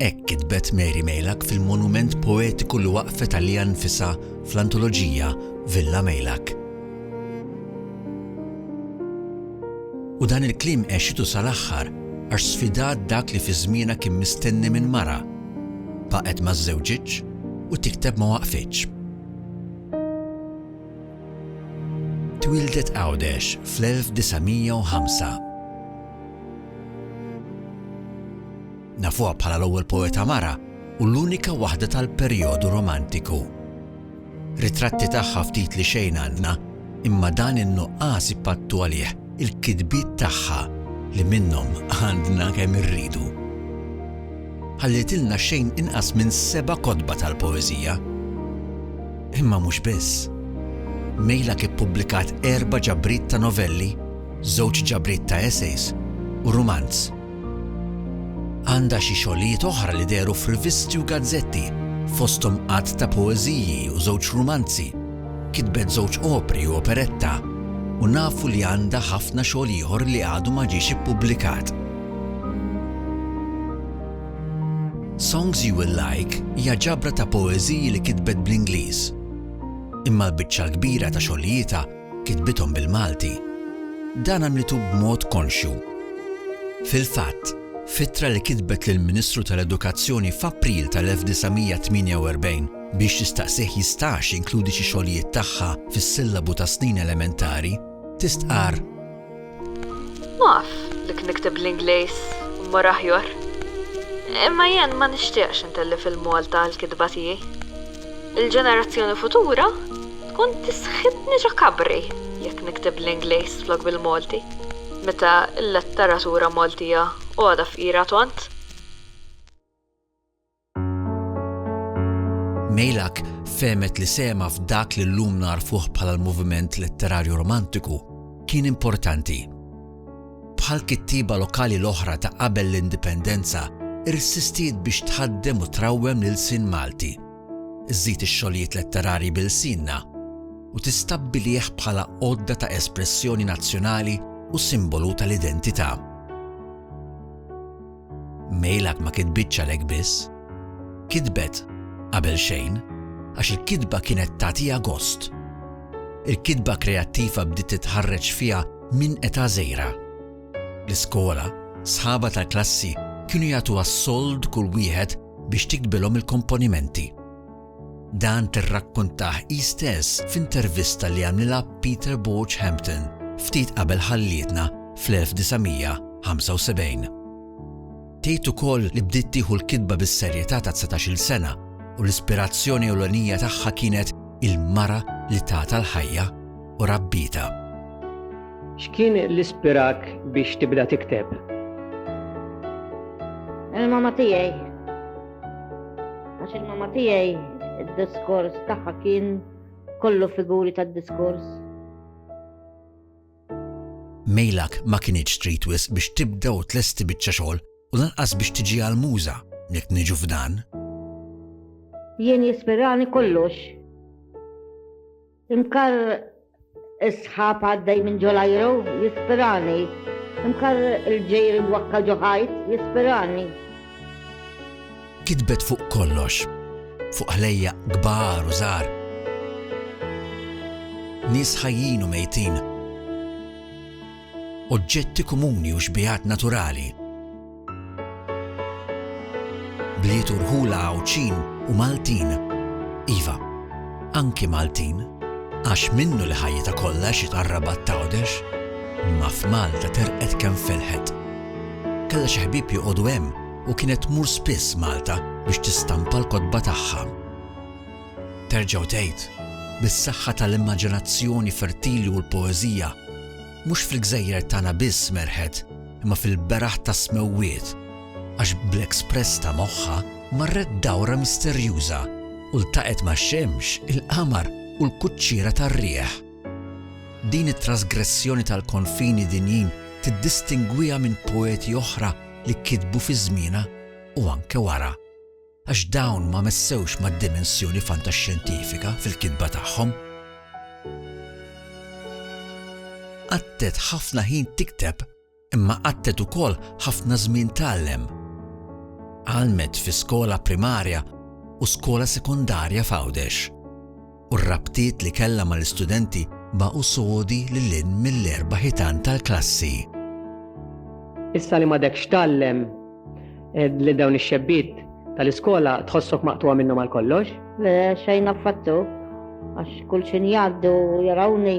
Hekk kitbet Mary Meilak fil-monument poetiku li waqqfet għaliha nnfisha fl-antoloġija Villa Meilak. U dan il-kliem għexitu sal-aħħar għax sfidat dak li fi żmienha kien mistenni minn mara, baqgħet ma żżewġitx u tikteb ma waqfitx. Twieldet Għawdex fl-1905. Nafuha bħala l-ewwel poeta mara u l-unika waħda tal-perjodu Romantiku. Ritratti tagħha ftit li xejn għandna, imma dan in-nuqqas ipattu għalih il-kitbiet tagħha li minnhom għandna kemm irridu. Ħallietilna xejn inqas minn seba' kotba tal-poeżija. Imma mhux biss. Meilak ippubblikat erba' ġabriet ta' novelli, żewġ ġabriet ta' essays u rumanz. Għandha xi xogħlijiet oħra li dehru f'rivisti u gazzetti, fosthom għadd ta' poeżiji u żewġ rumanzi. Kitbet żewġ opri u operetta, u nafu li għandha ħafna xogħol ieħor li għadu ma ġiex ippubblikat. Songs You Will Like hija ġabra ta' poeżiji li kitbet bl-Ingliż. Imma l-biċċa l-kbira ta' xogħlijietha kitbithom bil-Malti, dan għamlitu b'mod konxju. Fil-fatt, f'ittra li kitbet lill-Ministru tal-Edukazzjoni f'April tal-1948 biex tistaqsih jistax jinkludi xi xogħlijiet tagħha fis-sillabu tas-snin elementari, tistqarr, Naf li kien ikteb bl-Ingliż u mmur aħjor, imma jien ma nixtieqx intellef il-Malta għall-kitba tiegħi. Il-ġenerazzjoni futura tkun tisħitni ġo kabri jekk nikteb bl-Ingliż flok bil-Malti, meta l-letteratura Maltija għodha fqira tont. Meylak fehmet li sehemha f'dak li llum nagħrfuh bħala l-moviment letterarju romantiku kien importanti. Bħal kittieba lokali l-oħra ta' qabel l-Indipendenza, irsistiet biex tħaddem u trawwem l-ilsien Malti, żżid ix-xogħlijiet letterarji b'ilsienna, u tistabbilih bħala għodda ta' espressjoni nazzjonali u simbolu tal-identità. Mail qatt ma kitbitx għalhekk biss. Kitbet, qabel xejn, għax il-kitba kienet tagħtiha gost. Il-kitba kreattiva bdiet titħarreġ fiha minn età żgħira. L-iskola, sħabha tal-klassi kienu jagħtuha s-sold kull wieħed biex tiktbilhom il-komponimenti. Dan tirrakkuntah hi stess f'intervista li għamlilha Peter Borg Hampton ftit qabel ħallietna fl-1975. Tgħid ukoll li bdiet tieħu l-kitba bis-serjetà ta' dsatax-il sena u l-ispirazzjoni ewlenija tagħha kienet il-mara li tatha l-ħajja u rabbietha. X'kien li spirak biex tibda tikteb? Il-mamma tiegħi. Għax il-mama tiegħi id-diskors tagħha kien kollu figuri tad-diskors. Mejlak ma kienx trid wisq biex tibda u tlesti biċċa xogħol u lanqas biex tiġi għal muża jekk niġu f'dan. Jien jispirani kollox Imkar is-sħab għaddej minn ġolajru jispirani. Imkar il-ġejr wakka ġoħajt jispirani. Kitbet fuq kollox, fuq ħlejja kbar u żgħar. Nies ħajjin u mejtin. Oġġetti komuni u xbijat naturali Bliet u rħula Għawdxin u Maltin. Iva, anki Maltin, għax minnu li ħajjitha kollha xi tarrabat t'Għawdex, imma f'Malta terqet kemm felħet. Kellha xi ħbieb joqogħdu hemm u kienet tmur spiss Malta biex tistampa l-kotba tagħha. Terġgħu tgħid, bis-saħħa tal-immaġinazzjoni fertili u l-poeżija, Mhux fil-gżejjer tagħna biss merħet imma fil-beraħ tas-smewwiet, għax bl-express ta' moħħha marret dawra misterjuża u ltaqgħet max-xemx, il-qamar u l-kuċċiera tar-riħ. Din it-trasgressjoni tal-konfini dinjin tiddistingwiha minn poeti oħra li kitbu fi żmienha u anke wara. għax dawn ma messewx mad-dimensjoni fantaxxjentifika fil-kitba tagħhom. Qattet ħafna ħin tikteb imma qattet ukoll ħafna żmien tgħallem. Għallmet fi skola primarja u skola sekondarja f'Għawdex. u r-rabtiet li kellha mal-istudenti baqgħu sodi lil hinn mill-erba' ħitan tal-klassi. Issa li m'għadekx tgħallem lil dawn ix-xebbiet tal-iskola tħossok maqtugħa minnhom għal kollox? Le, xejn affattu, għax kull xi ngħaddu jarawni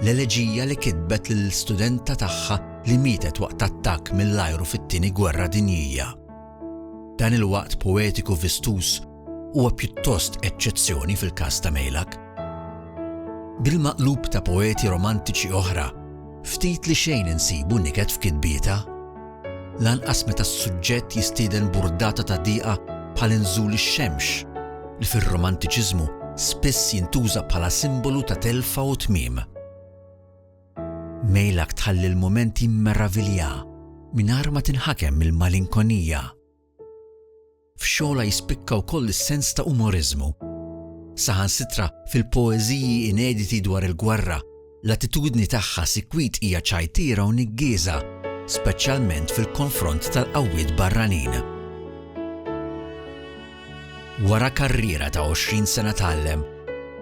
L-eleġija li kitbet lill-studenta tagħha li mietet waqt attakk mill-ajru fit-Tieni Gwerra Dinjija. Dan il-waqt poetiku vistuż huwa pjuttost eċċezzjoni fil-każ ta' Meylak. Bil-maqlub ta' poeti romantiċi oħra, ftit li xejn insibu niket f'kitbietha. lanqas meta s-suġġett jistieden burdata ta' diqa bħal inżul ix-xemx, li fir-Romantiċiżmu spiss jintuża bħala simbolu ta' telfa u tmiem. Meylak tħalli l-mument jimmeravilja mingħajr ma tinħakem mill-malinkonija. F'xogħolha jispikka wkoll is-sens ta' umoriżmu. Saħansitra fil-poeżiji inediti dwar il-gwerra, l-attitudni tagħha sikwit hija ċajtiera u niggieża, speċjalment fil-konfront tal-qawwiet barranin. Wara karriera ta' 20 sena tgħallem,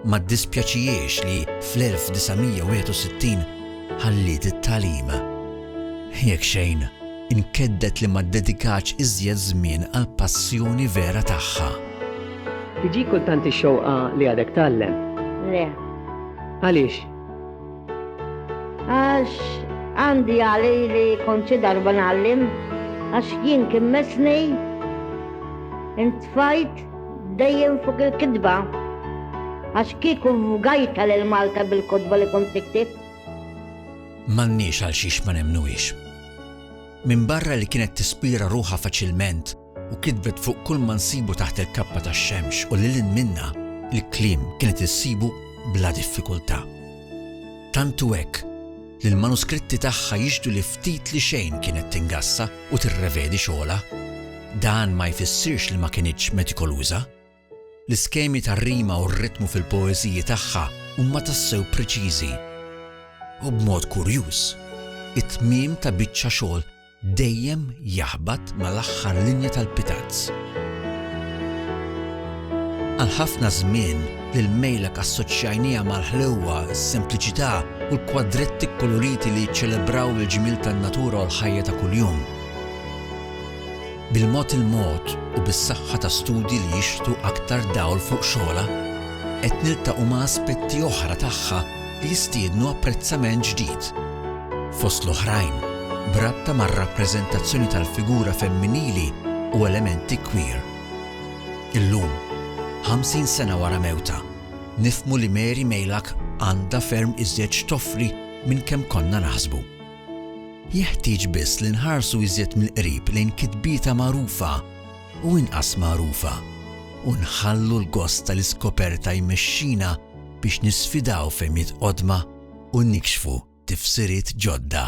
ma ddispjaċihiex li fl-1961 ħalliet it-tagħlim. Jekk xejn, inkedded li ma ddedikatx iżjed żmien għall-passjoni vera tagħha. Tiġik kultant ix-xewqa li għadek tgħallem? Le. Għaliex? Għax għandi għali li kont xi darba nagħallim, għax jien kien mesni intfajt dejjem fuq il-kitba. Għax kieku vgajta lil Malta bil-kotba li kont niktib. M'għandniex għal xiex ma nemmnuhiex. Minbarra li kienet tispira ruħha faċilment, u kitbet fuq kulma nsibu taħt il-kappa tax-xemx u lil hinn minnha, il-kliem kienet issibu bla diffikultà. Tant hu hekk li l-manuskritti tagħha jixhdu li ftit li xejn kienet tingassa u tirrevedi xogħolha. Dan ma jfissirx li ma kinitx metikoluża. L-iskemi tar-rima u r-ritmu fil-poeżiji tagħha huma tassew preċiżi. U b'mod kurjuż, it-tmiem ta' biċċa xogħol dejjem jaħbat mal-aħħar linja tal-pitazz. Għal ħafna żmien, lil Meylak assoċjajniha mal-ħlewwa, is-sempliċità, u l-kwadretti kkoloriti li jiċċelebraw il-ġmiel tan-natura u l-ħajja ta' kuljum. Bil-mod il-mod u bis-saħħa ta' studji li jixħtu aktar dawl fuq xogħolha, qed niltaqgħu ma' aspetti oħra tagħha li jistiednu apprezzament ġdid. Fost l-oħrajn, b'rabta mar-rappreżentazzjoni tal-figura femminili u elementi queer. Illum, 50 sena wara mewtha, nifhmu li Mary Meylak għandha ferm iżjed x'toffri minn kemm konna naħsbu. Jeħtieġ biss li nħarsu iżjed mill-qrib lejn kitbietha magħrufa u inqas magħrufa, u nħallu l-gost tal-iskoperta jmexxina biex nisfidaw fehmiet qodma u nikxfu tifsiriet ġodda.